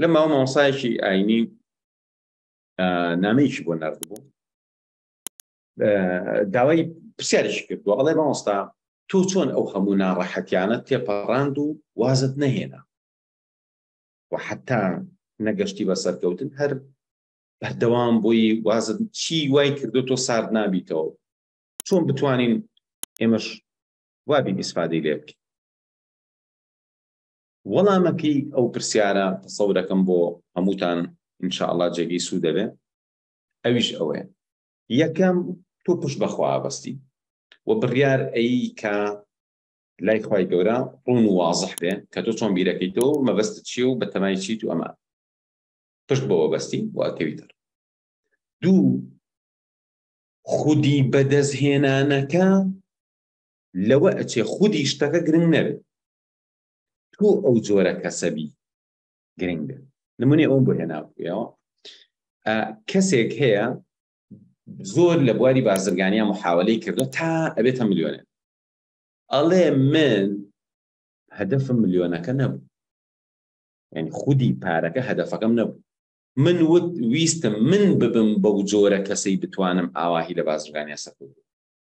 لە ماوە مامۆسایەکی ئاینی نامەیەکی بۆ نردبوو داوای پرسیارێکی کردووە ئەڵێ مامۆستا تۆ چۆن ئەو هەموو ناڕەحەتیانە تێپەڕاند و وازت نەهێنا و حتا نەگەشتی بە سەرکەوتن هەر بەردەوام بۆی وازت چی وای کردو تۆ سارد نابیتەوە چۆن بتوانین ئێمەش وابی ئیسفادەی لێ بکەین وەڵامەکەی ئەو پرسیارە تەسەورەکەم بۆ هەمووتان ان شاء اللە جێگەی سوود دەبێ ئەویش ئەوەیە یەکەم تۆ پشت بەخوا بەستی و بڕیار ئەی کە لای خوای گەورە ڕون و وازح بێ کە تۆ چۆن بیرەکەی تۆ مەبەست چیە و بەتەمای چیت و ئەمان پشت بەوە بەستی و ئەکەوی تر دوو خودی بەدەستهێنانەکە لەوە ئەچێ خودی شتەکە گرنگ نەبێت تۆ ئەو جۆرە کەسەبی گرنگە نمونێ ئەوم بۆ هێناوەوە کەسێک هەیە زۆر لە بواری بازرگانیا محاولەی کردو تا ئەبێتە ملیۆنێن ئەڵێ من هەدەفم ملیۆنەکە نەبوو یعنی خودی پارەکە هەدەفەکەم نەبوو من وت ویستم من ببم بەو جۆرە کەسەی بتوانم ئاواهی لە بازرگانیا سەکوت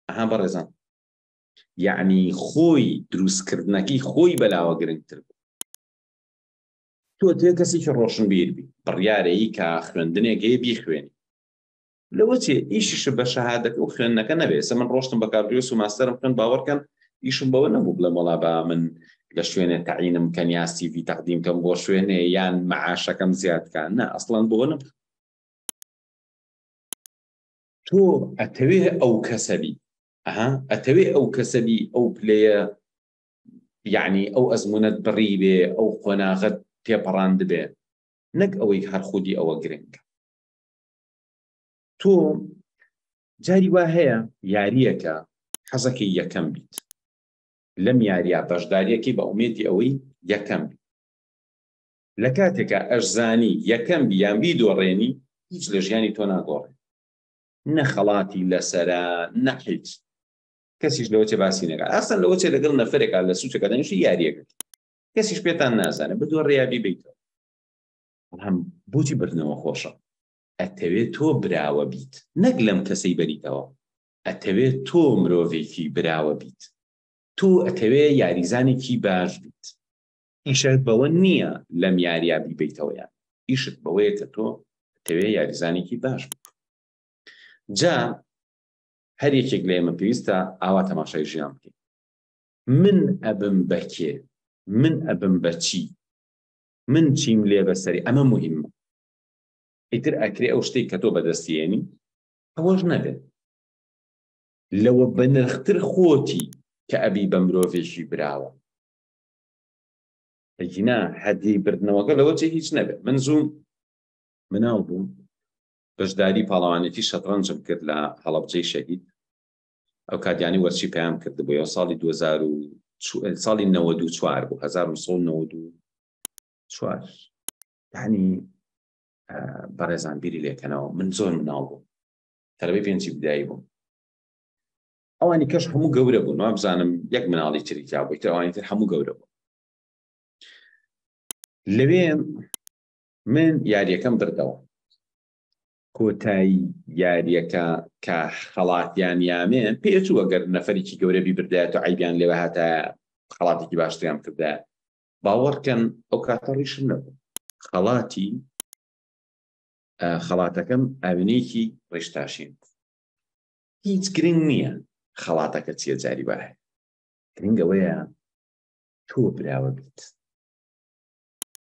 ئەها بەڕێزان یەعنی خۆی دروستکردنەکەی خۆی بەلاوە گرنگتر بوو تۆ تێ کەسێکی ڕۆشنبیر بی بڕیارەیی کە خوێندنێک هەیە بیخوێنی لەوە چێ ئیشش بە شەهادەکە و خوێندنەکە نەبێت سە من ڕۆشتم بە کارگرێس و ماستەرم خوێن باوەڕکەن ئیشم بەوە نەبوو بڵێ مەڵا با من لە شوێنێ تەعینم کە نیاستی وی تەقدیم کەم بۆ شوێنێ یان معاشەکەم زیادکان نە ئەسڵان بۆ نم تۆ ئەتەوێ ئەو کەسەبی ئەها ئەتەوێ ئەو کەسە بی ئەو پلەیە یعنی ئەو ئەزمونەت بڕی بێ ئەو قۆناغەت تێپەڕاند بێ نەک ئەوەی هەر خودی ئەوە گرنگ تۆ جاری وا هەیە یاریەکە حەزەکەی یەکەم بیت لەم یاریە بەشداریەکەی بە ئومێدی ئەوەی یەکەم بیت لە کاتێکە ئەشزانی یەکەم بیان بی دۆڕێنی هیچ لە ژیانی تۆ ناگۆڕێ نە خەڵاتی لەسەرە نە حیچ کەسیش لەوە چێ باسی نەکە ئەسەن لەوە چێ لەگەڵ نەفرێکا لە سوچەکە دەنیشی یاریەکە کەسیش پێتان نازانە بدوە ڕیابی بیتەوە بەڵام بۆچی بردنەوە خۆشە ئەتەوێت تۆ براوە بیت نەک لەم کەسەی بەریتەوە ئەتەوێت تۆ مرۆڤێکی براوە بیت تۆ ئەتەوێ یاریزانێکی باش بیت ئیشت بەوە نییە لەم یارییە بیبەیتەوە یان ئیشت بەوەیە کە تۆ دەتەوێت یاریزانێکی باش بیت جا هەر یەکێک لە ئێمە پێویستە ئاوا تەماشای ژیان بکەین من ئەبم بەکێ من ئەبم بەچی من چیم لێ بەسەری ئەمە مهمە ئیتر ئەکرێ ئەو شتێک کە تۆ بەدەستیێنی ئەوەش نەبێت لەوە بەنرختر خۆتی کە ئەبی بە مرۆڤێکی براوە ئەگینا هەدی بردنەوەکە لەوە جێ هیچ نەبێت من زووم مناو بووم بەشداری پاڵەوانێتی شەتڕەنجم کرد لە هەڵبجەی شەهید ئەو کاتیانی وەرچی پێیان کرد بۆ یە ساڵی 2000 ساڵی 94 بۆ 1994 ینی بەڕێزان بیری لێکەنەوە من زۆر مناڵ بووم تەرەبەی پێنجی بدایی بووم ئەوانی کەش هەموو گەورە بوون وابزانم یەک مناڵی تری تابووی تر ئەوانی تر هەموو گەورە بوو لەوێ من یاریەکەم بردەوە کۆتایی یاریەکە کە خەڵاتیان یامێ پێچوو ئەگەر نەفرێکی گەورەبی بردایەت و عیبیان لێوە هاتە خەڵاتێکی باشتیان کردە باوەڕکەن ئەو کاتە ڕیشم نەبوو خەڵاتی خەڵاتەکەم ئاوینێکی ڕێشتاشین هیچ گرنگ نییە خەڵاتەکە چیە جاری با هەیە گرنگ ئەوەیە تۆ براوە بیت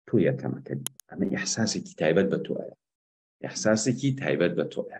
تۆ یەکەمەکە ئەمە ئیحساسێکی تایبەت بە تۆیە ئیحساسێکی تایبەت بە تۆیە